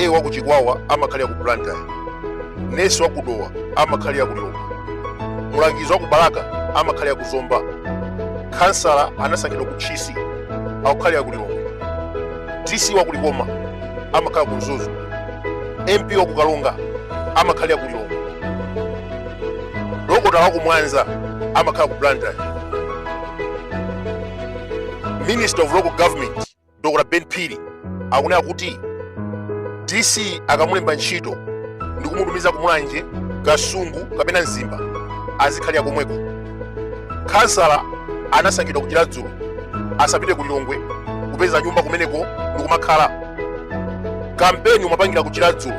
ta wa ku chikwawa amakhalira ku blantyre nesi wa ku dowa amakhalira ku lilongwe mulangizi wa ku balaka amakhalira ku zomba khansala anasankhidwa ku tchisi akukhalira ku lilongwe dc wa ku likoma amakhala ku mzuzu mp wa ku karonga amakhalira ku lilongwe dokotala wa ku mwanza amakhala ku blantyre minister of local government dr ben phiri akunena kuti dc akamulemba ntchito ndi kumutumiza kumulanje kasungu kapena mzimba azikhalira komweko khansala anasankhidwa kuchiradzulu asapite ku lilongwe kupeza nyumba kumeneko ndikumakhala kampeni umapangira kuchiradzulu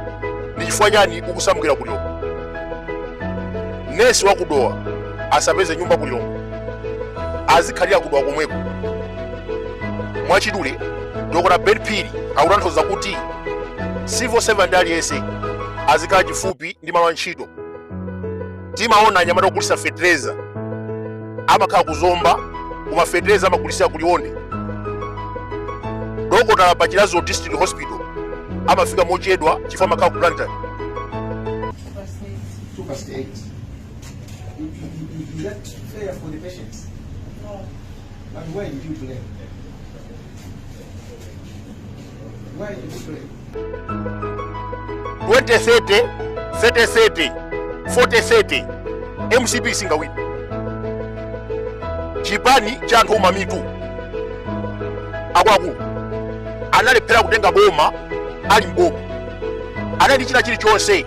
ndi chifukwa chani ukusamukira ku lilongwe nesi wakudowa asapeze nyumba ku lilongwe azikhalira kudowa komweko mwachidule dokota ben phiri akutanthauza kuti civil servant aliyense azikhala chifupi ndi malo a ntchito timaona anyamata ogulitsa fetereza amakhala kuzomba koma fetereza amagulitsira kuliwonde dokotala pa chiradzulu district hospital amafika mochedwa chifukwa amakhala ku blantyre You, you, you left prayer for the patients. No. But why did you pray? Why did you pray? 2030 3030 4030 mcp singawina chipani cha anthu omamitu akuluakulu analephera kutenga boma ali mboma anali china chilichonse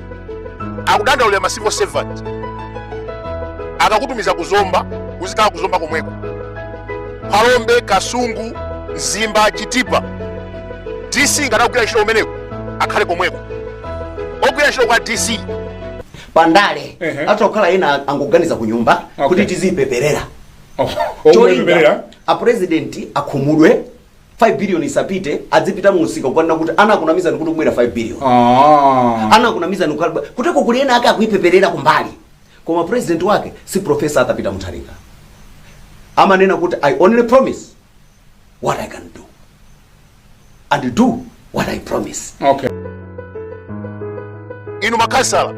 akudandaulira ma civil servant akakutumiza kuzomba uzikhala kuzomba komweko phalombe kasungu mzimba chitipa dc ngati akugwira ntchito kumeneko akhale komweko ogwira ntchito kwa dc pandale atha kukhala ena angoganiza ku nyumba kuti tiziipeperera cholinga apresidenti akhumudwe 5 billion isapite adzipita mumsika kukanena kuti anakunamizani kuti ibwera 5 billion anakunamizani kuteroko kuli ena ake akuipeperera kumbali koma president wake si profesa arthur peter mutharika amanena kuti i only promise what i can do and do what i promise inu makhansala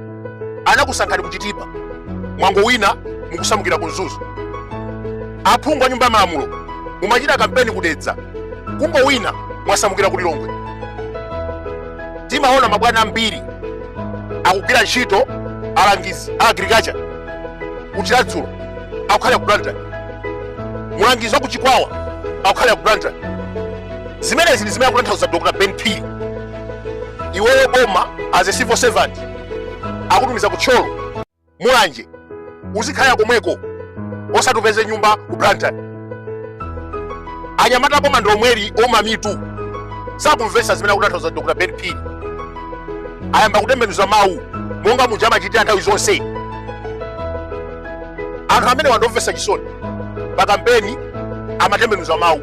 anakusankhani kuchitipa mwangowina mukusamukira ku mzuzu aphungu a nyumba ya malamulo mumachita kampeni kudedza kungowina mwasamukira ku lilongwe timaona mabwana ambiri akugwira ntchito alangizi a agriculture kuchiradzulu akukhala ku blantyre mulangizi wa ku chikwawa akukhalira ku blantyre zimenezi ndi zimene akutanthauza dr ben phiri iweyo boma as a civil servant akutumiza ku thyolo mulanje uzikhalira komweko osati upeze nyumba ku blantyre anyamata pompano ndi omweli ouma mitu sakumvesa zimene akutanthauza dr ben phiri ayamba kutembenuza mawu monga muja amachitira nthawi zonse anthu amene wandimvesa chisoni pa kampeni amatembenuza mawu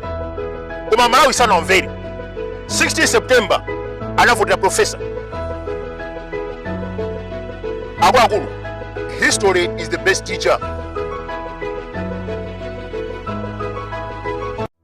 koma malawi sanawamvere 16 september anavotera profesa akuluakulu history is the best teacher